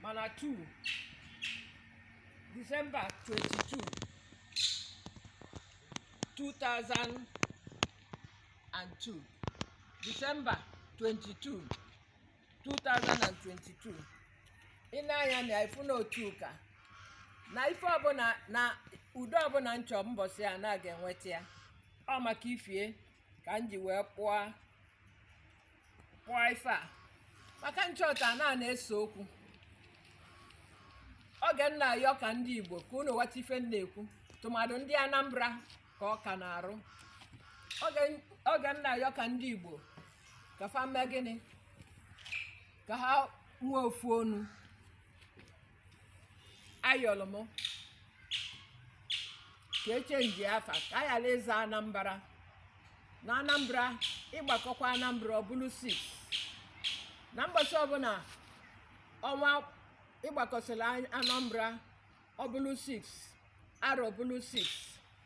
mana 2 Disemba 22 2002 Disemba 22 2022 ị na-anya na ifu na otu ụka na ife ọbụla na udo ọbụla m chọ mbọsị a na a ga-enweta ya ọ maka ife a ka m ji wee kpọọ kpọọ ife a maka m chọta na a na-ese okwu oge m na-ayọ ka ndị igbo ka unu ghọta ife m na-ekwu tụmadụ ndị anambra ka ọ ka n'arụ oge oge m na-ayọ ka ndị igbo ka fa mee gịnị ka ha nwee ofu onu ayọrọ m ka e chenji afa ka a ghara ịza anambra na anambra ị gbakọkwa anambra ọ bụrụ 6 na mgbasa ọbụla ọnwa ị gbakọsịrị An- anambra ọ bụrụ 6 arọ bụrụ 6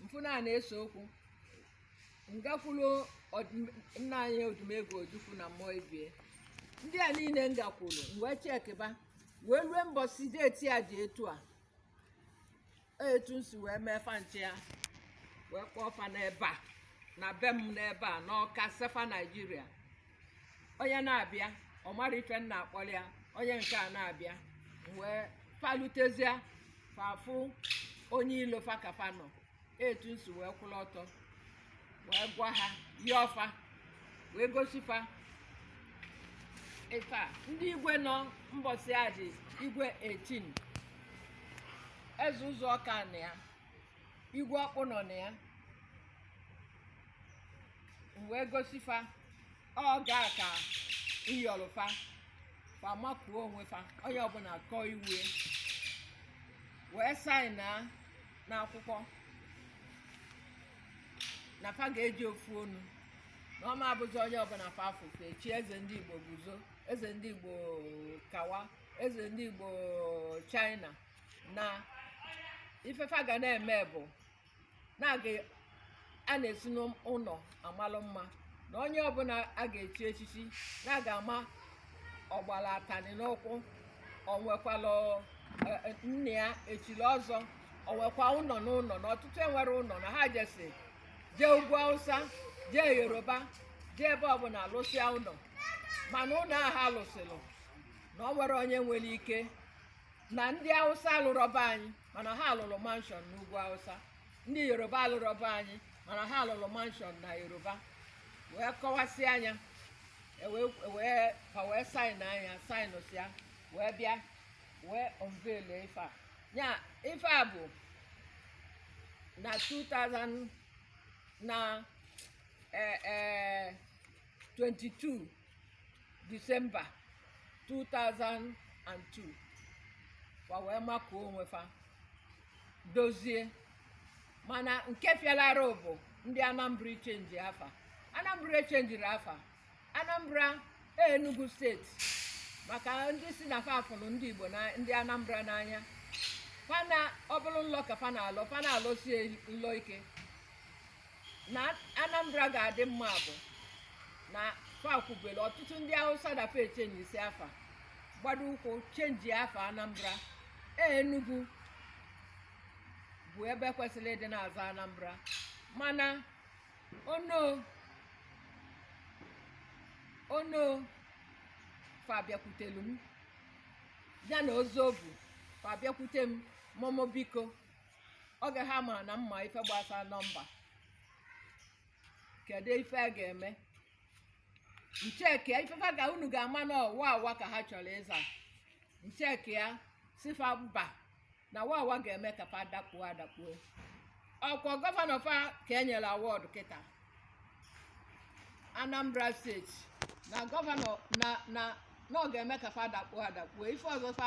m fụ na a na-ese okwu m gakwuru nna anyị odumegwu ojukwu na mmụọ ebe ndị a niile m gakwuru m wee chekịba wee rue mbọsị deeti ya dị etu a etu m si wee mee fa m chee ya wee kpọọ fa n'ebe a na be m n'ebe a n'ọka sị fa naijiria onye na-abịa ọ mara ife m na-akpọrọ ya onye nke a na-abịa wee fa lutezia fa fụ onye ilo fa ka fa nọ etu m si wee kwụrụ ọtọ wee gwa ha yọọ fa wee gosi fa ife a ndị igwe nọ mbọsị a dị igwe 18 eze ụzụ ọka nọ ya igwe ọkpụnọ nọ ya m wee gosi fa ọ gaa ka ịyọrọ fa fa makuo onwe fa onye ọbụla kọọ iwe ya wee saịnịa n'akwụkwọ na fa ga-eji ofu onu na ọ ma-abụzi onye ọbụla fa fụ fa echi eze ndị igbo guzo eze ndị igbo kawa eze ndị igbo china na ife fa ga na-eme bụ na a ga na-esi n'ụlọ amalụ mma na onye ọbụla a ga-echi echichi na a ga-ama ọ gbara atani n'ụkwụ o nwekwala nna ya e chiri ọzọ o nwekwa ụlọ n'ụlọ na ọtụtụ enwerọ ụlọ na ha jesi jee ugwu awụsa jee yoruba jee ebe ọbụla alụsịa ụlọ mana ụlọ ahụ a lụsịlụ na o nwere onye nwere ike na ndị Hausa alụrọ be anyị mana ha lụrụ mansion n'ugwu Hausa ndị Yoruba alụrọ be anyị mana ha lụrụ mansion na Yoruba wee kọwasịa nya e wee fa wee saịnịa nya saịnịsịa wee bịa wee unveil ife a ya ife a bụ na 2000 na 22 eh, eh, disemba 2002 fa wee makuo onwe fa dozie mana nke fịara arụ bụ ndị anambra chenji afa anambra chenjiri afa anambra enugu steeti maka ndị sị na fa fụrụ ndị igbo na ndị anambra n'anya fa na ọ bụrụ nlọ ka fa na-alọ fa na-alọsi nlọ ike na Anambra ga-adị mma bụ na fa kwubere ọtụtụ ndị Hausa dafe echenjisi afa gbado ụkwụ chenji afa Anambra e, Enugu bụ ebe kwesịrị ịdị na-aza Anambra mana Onoh Onoh fa bịakwutelu m ya na Ozobu fa bịakwute m momo biko oge ha mara na m ma ife gbasara nọmba kedu ife a ga-eme m chekie ife fa ka unu ga-ama na ọ Wawa ka ha chọrọ ịza m chekie ya sị fa mba na Wawa ga-eme ka fa dakpuo adakpuo ọ kwa gọvanọ fa ka e nyere award kịta anambra steeti na gọvanọ na na na ọ ga-eme ka fa dakpuo adakpuo ife ọzọ fa